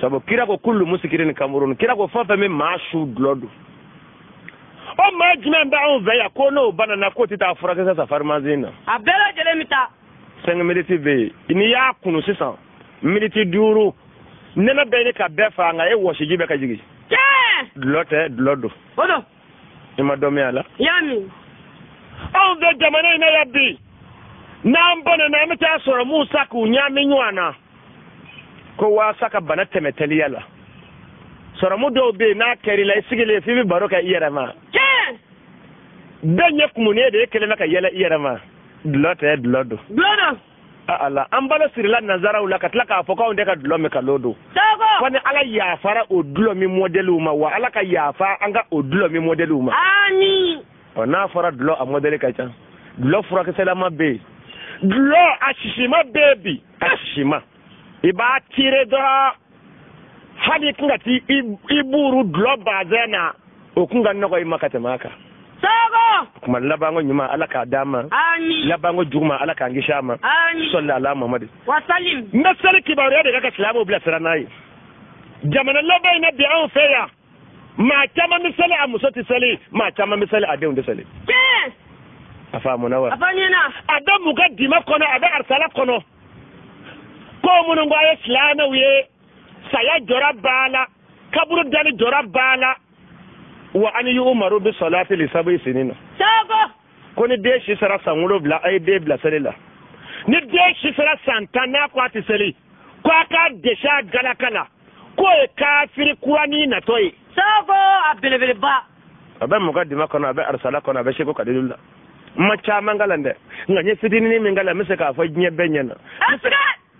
sabu kira ko kullu musikirin kamurun kira ko fɛn o fɛn bɛ maa su dulɔ don o maa jumɛn bɛ anw fɛ yan ko n'o banana k'o tɛ taa furakisɛ san farimansin na. a bɛɛ lajɛlen bɛ taa. cinq miniti bɛ yen n'i y'a kunu sisan miniti duuru nɛnɛ bɛ ɲini ka bɛɛ faga nka e wɔsiji bɛ ka jigin. tiɲɛ. dulɔ tɛ dulɔ don. o don. i ma dɔ min a la yanni anw fɛ jamana in na yan bi n'an banana an bɛ taa sɔrɔmuw san k'u ɲaami ɲɔgɔn na ko waasa ka bana tɛmɛ teliya la sɔrɔmu dɔw bɛ yen n'a kɛr'i la i sigilen f'i bɛ baro kɛ i yɛrɛ ma bɛɛ ɲɛ kumunen de i kelen bɛ ka yɛlɛ i yɛrɛ ma dulɔ tɛ dulɔ don ala an balo sirila nanzaraw la ka tila k'a fɔ k'anw tɛ ka dulɔ min nkalon don fo ni ala yafara o dulɔ min mɔdɛliw ma wa ala ka yafa an ka o dulɔ min mɔdɛliw ma ɔ n'a fɔra dulɔ a mɔdɛli ka ca dulɔ furakisɛlama bɛ yen dulɔ a sisima bɛ yen bi a sisima i b'a tire dɔrɔn hali tun ka ti i buru dulɔ bazɛn na o kun ka nɔgɔ i ma ka tɛmɛ a kan kuma labanko ɲuman ala k'a d'an ma labanko juguman ala k'an kisi a ma sɔli ala mamadi n bɛ seli kibaruya de kan ka silamɛw bilasira n'a ye jamana laban in na bi anw fɛ yan maa caman bɛ seli a muso tɛ seli maa caman bɛ seli a denw tɛ seli. tiɲɛ. a faamuna wa. a fɔ ɲɛna. a bɛ mukadima kɔnɔ a bɛ arisala kɔnɔ ko minnu ko a ye silamɛw ye saya jɔrɔ b'a la kaburu dali jɔrɔ b'a la wa an yuumaru bi sɔlati li sabu sinina. sago. ko ni den si sera san wolonwula a ye den bila seli la ni den si sera san tan n'a ko a tɛ seli ko a k'a dɛsɛ a galaka la. k'o ye kafiri kuranin natɔ ye sago a belebeleba a bɛ mukadima kɔnɔ a bɛ arisala kɔnɔ a bɛ seko kadilu la n ma caman kalan dɛ nka n ye fitinin min kalan n bɛ se k'a fɔ diɲɛ bɛɛ ɲɛna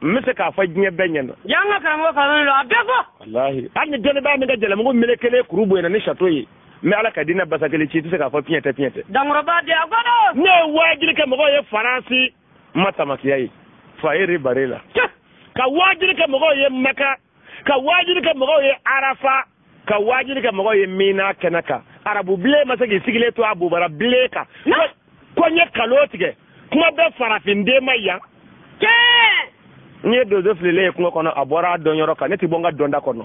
n bɛ se k'a fɔ diɲɛ bɛɛ ɲɛna yan ka karamɔgɔ kalan don a bɛɛ fɔ walahi hali ni dɔnnibaa min ka jalamugu melekelen kuru bonyana ni sato ye n bɛ ala ka diinɛ basakili ci i tɛ se k'a fɔ piɲɛ tɛ piɲɛ tɛ dankɔrɔba di a kɔnɔ ne ye waajiri kɛ mɔgɔw ye faransi n ma tamakiya ye foyer rue bara la ka waajiri kɛ mɔgɔw ye maka ka waajiri kɛ mɔgɔw ye arafa ka waajiri kɛ mɔgɔw ye mina kɛnɛ kan arabu bilen ma se k'i sigilen to a bobara bilen kan ko n ye nkalon tigɛ kuma bɛ farafinden ma yan n'i ye donso fililen ye kungo kɔnɔ a bɔra a dɔnyɔrɔ kan ne tɛ bɔ n ka dɔnda kɔnɔ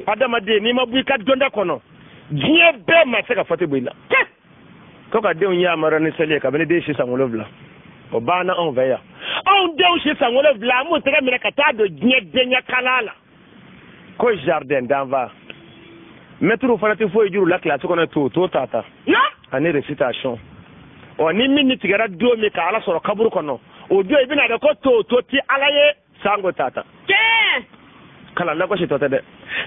adamaden n'i ma bɔ i ka dɔnda kɔnɔ diɲɛ bɛɛ ma se ka fɔti bɔ i la ko ka denw yamaru ni seli ye kabini den si san wolonwula o banna anw fɛ yan anw denw si san wolonwula an b'u tɛgɛ minɛ ka taa don diɲɛdenya kalan la ko jardin d'enfants mɛtiriw fana tɛ foyi jir'u la kilasi kɔnɔ to to ta ta ani recitation ɔ ni min ni tigɛra don min ka ala sɔrɔ kaburu kɔnɔ o don i bɛn'a dɔn ko to to tɛ ala ye sango tata tiɲɛ kalan lagositɔ tɛ dɛ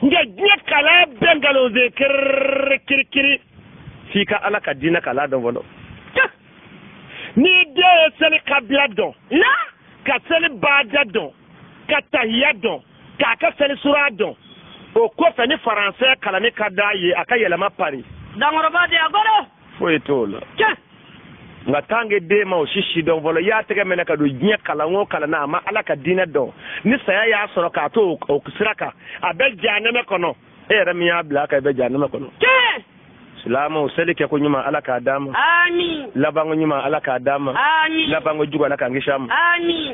nka diɲɛ kalan bɛɛ nkalon se kiriri kirikiri f'i ka ala ka diinɛ kalan dɔn fɔlɔ n'i den ye seli kabila dɔn a ka seli baada dɔn ka tahiya dɔn k'a ka seli sura dɔn o kɔfɛ ni faransɛ kalanni ka d'a ye a ka yɛlɛma pari dankɔrɔba de a kɔrɔ foyi t'o la nka tant que den ma o si si dɔn fɔlɔ i y'a tɛgɛ minɛ ka don diɲɛ kalan o kalan na a ma ala ka diinɛ dɔn ni saya y'a sɔrɔ k'a to o ko sira kan a bɛ jahanɛmɛ kɔnɔ e yɛrɛ min y'a bila a kan i bɛ jahanɛmɛ kɔnɔ silamɛw seli kɛ ko ɲuman ala k'a d'an ma labanko ɲuman ala k'a d'an ma labanko jugu ala k'an kisi a ma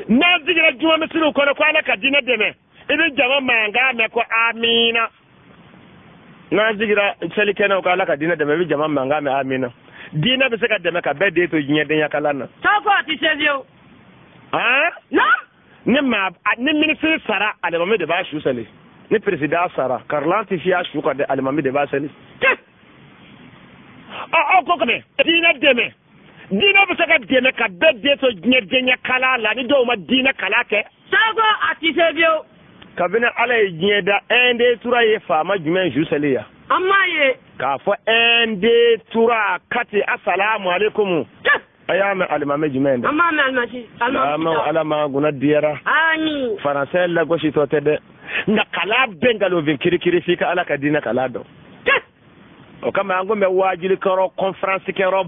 n'an sigira juma misiriw kɔnɔ ko ala ka diinɛ dɛmɛ i bɛ jama mankan mɛn ko amina n'an sigira seli kɛnɛw ko ala ka diinɛ dɛmɛ i bɛ jama mankan mɛn amina diinɛ bɛ se ka dɛmɛ ka bɛɛ den to diɲɛdenya kalan na. taa fɔ a tɛ se fiyewu. han. na. ni maa ni minisiri sara alimami de b'a su seli ni peresidan sara karilan tɛ fiyɛ a su kan dɛ alimami de b'a seli. o ko kama diinɛ dɛmɛ diinɛ bɛ se ka dɛmɛ ka bɛɛ den to diɲɛdenya kalan na ni dɔw ma diinɛ kalan kɛ. seko a ti se fiyewu. kabini ala ye diɲɛ da un deux trois ye faama jumɛn su seli yan. an m'a ye. k'a fɔ un deux trois quatre asalaamualeykum. a y'a mɛn alimami jumɛn ye dɛ. an m'a mɛn alimami alimami ta. ala m'an kunna diyara. amin. faransɛ lagositɔ tɛ dɛ nka kalan bɛɛ nkalonfin kirikiri f'i ka ala ka diinɛ kalan dɔn. o kama an ko mɛ waajuli kɛyɔrɔ kɔnferansi kɛyɔrɔ.